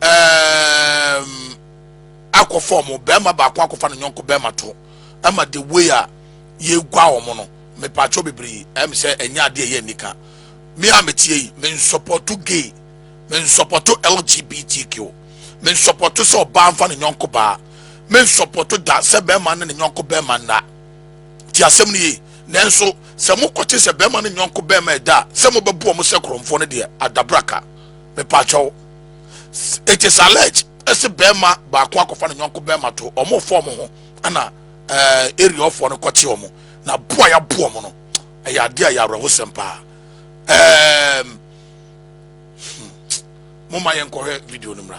um, akɔfa ɔmo bɛrima baako akɔfa no nyɔnko bɛrima to ɛma the way a yɛgua ɔmo no mepaakyɛw bebree ɛm sɛ ɛnyɛ adeɛ ɛyɛ nika me a metie yi mensɔpɔto gay mensɔpɔto lgbtq mensɔpɔto sɛ ɔbaa mfa ne nyɔnko baa mensɔpɔto da sɛ bɛrima ne ne nyɔnko bɛrima nna ti asɛm no yie nanso sɛ mokɔte sɛ bɛrima ne nyɔnko bɛrima ɛda a sɛ mobɛboɔ mo sɛ korɔmfoɔ no deɛ adabraka mepaakyɛw it is alleged ɛsɛ bɛrima baako akɔfa ne nyɔnko bɛrima to ɔmo fɔ ɔmo ho ɛna ɛɛ eh, area ɔfoɔ no kɔte ɔmo na boa ya boa ɔmo no ɛyɛ adeɛ a yɛ awerɛhosɛm paa ɛɛm hmm. mo ma yɛn nkɔhwɛ video no mmra.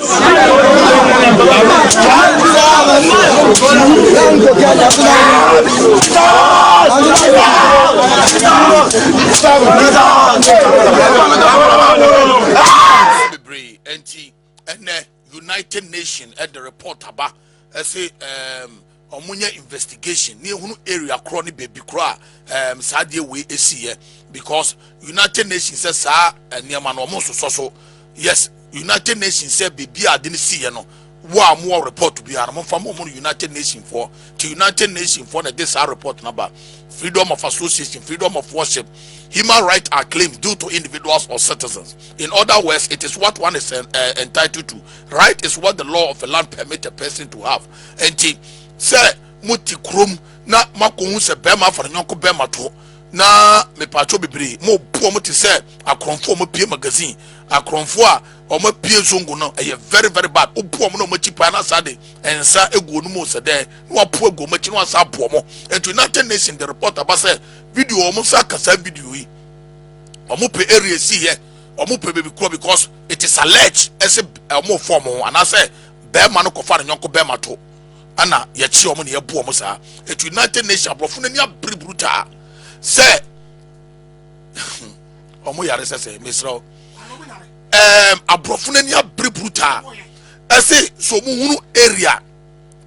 bebree nti ɛnɛ united nation ɛde report aba ɛsɛ ɛɛm. ɔmo nyɛ investigation ne ehunu area korɔ ne baabi korɔ a um, saa adeɛ wei esiiɛ because united nations sɛ saa eh, nneɛma no ɔmo nsosɔ so yes united nations sɛ baabi a ade no siiɛ no wo a mowɔ report biara no momfa mo no united nation foɔ nti united nation foɔ na ɛde saa report no aba freedom of association freedom of worship human rights are claimed due to individuals or citizens in other words it is what one is uh, entitled to right is what the law of a land permits a person to have Enti sɛ mote kurom na moakɔhu sɛ bɛrima afa ne yɔnko bɛrima to na mepaakyɛw bebree, morebu wɔn te sɛ akorɔmfoɔ a wɔapue magazine. Akorɔmfoɔ a wɔapue zongo no, ɛyɛ very very bad. Wobu wɔn na wɔn akyi paa na saa de nsa egu wɔn mu sɛ dɛn na wɔapo agu wɔn akyi na wɔasa abu wɔn. Enti United Nations de report aba sɛ video wɔn nsa aka saa video yi. Wɔn pɛ area si yɛ, wɔn pɛ baabi korɔ because it is alleged ɛsɛ wɔn fɔm ho anaasɛ Barima no kɔfa ne yɔnko barima to ɛna yɛkye wɔn na yɛbu wɔn saa etu United Nations aborɔfo n'ani abere brutaa sɛ wɔn yare sɛ sɛ mesrɛ wo ɛɛm aborɔfo n'ani abere brutaa ɛse so wɔn hunu area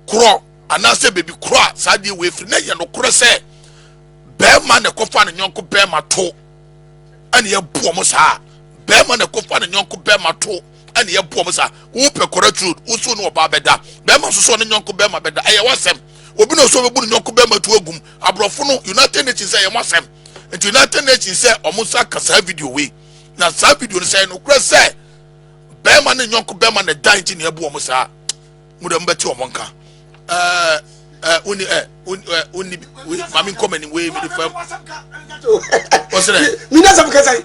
korɔ anaasɛ beebi korɔ a saa deɛ wɔ efiri na yɛ no korɔ sɛ barima na ɛkɔfa ne yɔnko barima to ɛna yɛbu wɔn saa barima na ɛkɔfa ne yɔnko barima to. ɛne yɛ boɔ mo sa wopɛ kɔrɛ turo wosuo ne ɔbaa bɛda bɛrima soso ne nyɔnko bɛrima bɛda ɛyɛ wasɛm obi na ɔsɔ bɛbu ne nyɔnko bɛrima tu agum aborɔfo no united nations sɛ ɛyɛ mo asɛm nti united nations sɛ ɔmo nsa ka saa video wei na saa video no sɛ ɛyɛ nokorɛ sɛ bɛrima ne nyɔnko bɛrima na ɛda nti na ɛbu ɔmo saa mo dɛ mo bɛte ɔmo nka ɛɛ ɛɛ woni ɛɛ woni ɛɛ woni maame nkɔmɛni wei mi de fam ɔsɛ dɛ mi na sɛ mo kasa yi.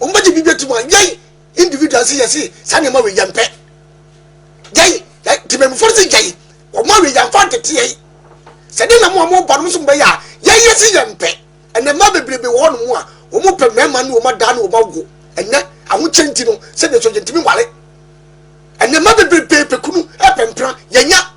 wɔn bɛgye bi bɛtum a yɛn individual nso yɛ se saa nneɛma wei yɛn pɛ yɛn yɛn tìmɛmufoɔ nso yɛn wɔn awie yɛn fa ntete yɛn sɛ de na mo a mo ba no nso bɛyɛ a yɛn yɛ se yɛn pɛ ɛnna mmaa bebrebe wɔ hɔnom a wɔn pɛ mmarima ne wɔn adaa ne wɔn awo ɛnɛ ahokyɛ nti no sɛdeɛ nso yɛntumi wale ɛnna mmaa bebrebe pɛ kunu ɛpɛ mpena yɛnya.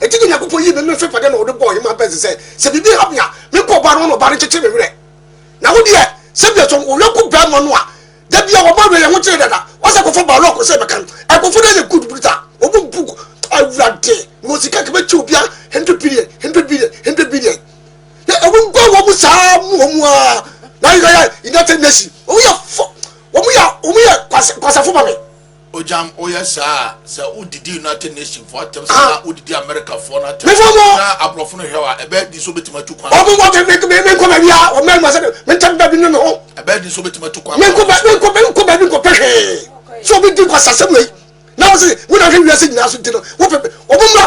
Enti na Nyankopɔn yii no n'ahyɛpade na ɔde bɔɔ Ɔhemmaa Perse sɛ, Sɛ biribi ha me a, menkɔ ɔbaa no hɔ na ɔbaa no nkyekye me werɛ. Na wo deɛ, sɛdeɛ sɔ wo yɔnko barima no a, da biara wɔbɔ awerɛyɛho kyere dada. Wasa kɔfa Baruk sɛ bɛka no. Nkurɔfoɔ no ayɛ good brutal. Wɔbɔ mu bug, Awurade, na wɔn sika nka bɛkyɛ obiara hundred billion, hundred billion, hundred billion. Na ɛwɔ nguan wɔn mu saa mu wɔn mu ara. Na yɛyɛ United Nations. Wɔn yɛ fo, wɔn yɛ, wɔn yɛ kwasa, kwasafo ma me. Ogyam, woyɛ saa a, sɛ wodidi United Nations fo atɛm sɛ na wodidi America foɔ no atɛm na aborɔfo no hwɛ a, ɛbɛyɛ den sɛ wobɛtumi atu kwan. Wɔn wɔn kɛ menkɔ baabi a wɔn mmarima sɛ mentɛm baabi no ne ho. Ɛbɛyɛ den sɛ wobɛtumi atu kwan. Menkɔ baabi menkɔ menkɔ baabi nkɔpɛ hwee. So obi di nkɔsasɛm wei na wɔn sɛ wɔn ahwɛ wiase nyinaa so di no wɔpɛ wɔn mmra.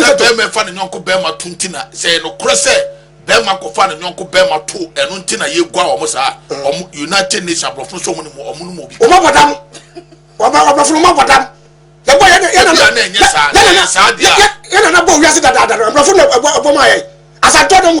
sɛ bɛrima fa ne nyɔnko bɛrima to nti na sɛ ɛnokorɛ sɛ bɛrima kɔfa ne nyɔnko bɛrima to ɛno nti na yɛgua wɔn saa wɔn united nations aborɔfo nso wɔn ne mu wɔn ne mu obi. wɔn abɔ dam wɔaborɔfo no wɔn abɔ dam yɛbɔ yɛn yɛn nana yɛn nana yɛn nana bɔ wiase dadaada no aborɔfo no ɛbɔ mu ayɛ asantɔ no mu.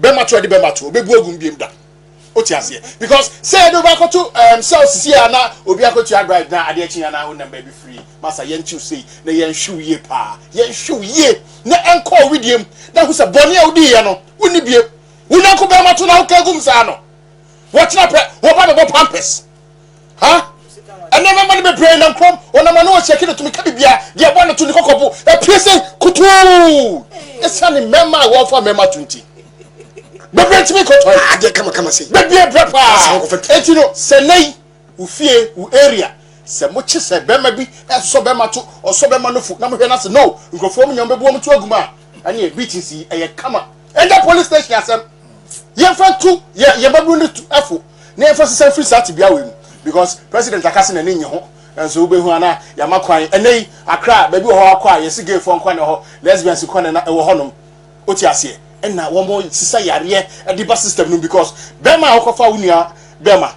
bɛma to ɛde bɛma to obebu agu mbiem da o ti aseɛ because sɛ ɛde ɔba akoto ɛɛm sɛ osisi a na obi akoto abride na adeɛ kyi na onam baabi firi masa yɛn tiw sei na yɛn hwiw yie paa yɛn hwiw yie na ɛnkɔ owi diem na ho sɛ bɔnne a odi yɛ no wonni biem wonyanko bɛrima to na woka egum saa no wɔtena pɛ wɔba bɛbɔ pampers ha ɛnna mɛma no bebree nam kurom ɔnam ano ɔsi akyi tumi ka bibia deɛ ɛbɔ ne to ne kɔkɔbo ɛpie sɛ kutuu ɛsiane mmɛma a wɔfa mmɛma to nti bebree ntumi nkɔtɔ yi ah, adeɛ kamakama sɛ bebree brɛ paa eti no sɛ nɛyi wo fie wo area sɛ mo kye sɛ bɛma bi ɛsɔ bɛma to ɔsɔ bɛma no fo na mo hwɛ n'ase no nkurɔfoɔ mo nyɛ mo bɛbu wɔn to aguma a ɛne beat nsi ɛyɛ kama ɛnyɛ police station asɛm yɛn fɛ tu yɛ yɛn bɛbu ne tu ɛfo. na yɛmfa sesa mfiri saa tebea wei mu because president aka se n'ani nnye ho nso wobɛhu ana yɛama kwan ɛnɛ yi akra baabi wɔ hɔ akɔ a yɛse gayfoɔ nkwa na ɛhɔ lesbians nkwa na ɛwɔ hɔ nom wote aseɛ ɛna wɔmɔ sisa yareɛ ɛde ba system no because bɛrima a wokɔfa wo nua bɛrima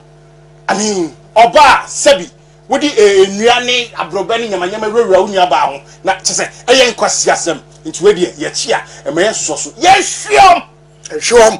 I mean ɔbaa sɛbi wode nnua ne aborɔbɛ ne nyamanyama wurawura wo nua baa ho na kyɛ sɛ ɛyɛ nkwa siasɛm nti wei deɛ yɛkyi a ɛma yɛsosɔ so yɛhweɔm ɛhweɔm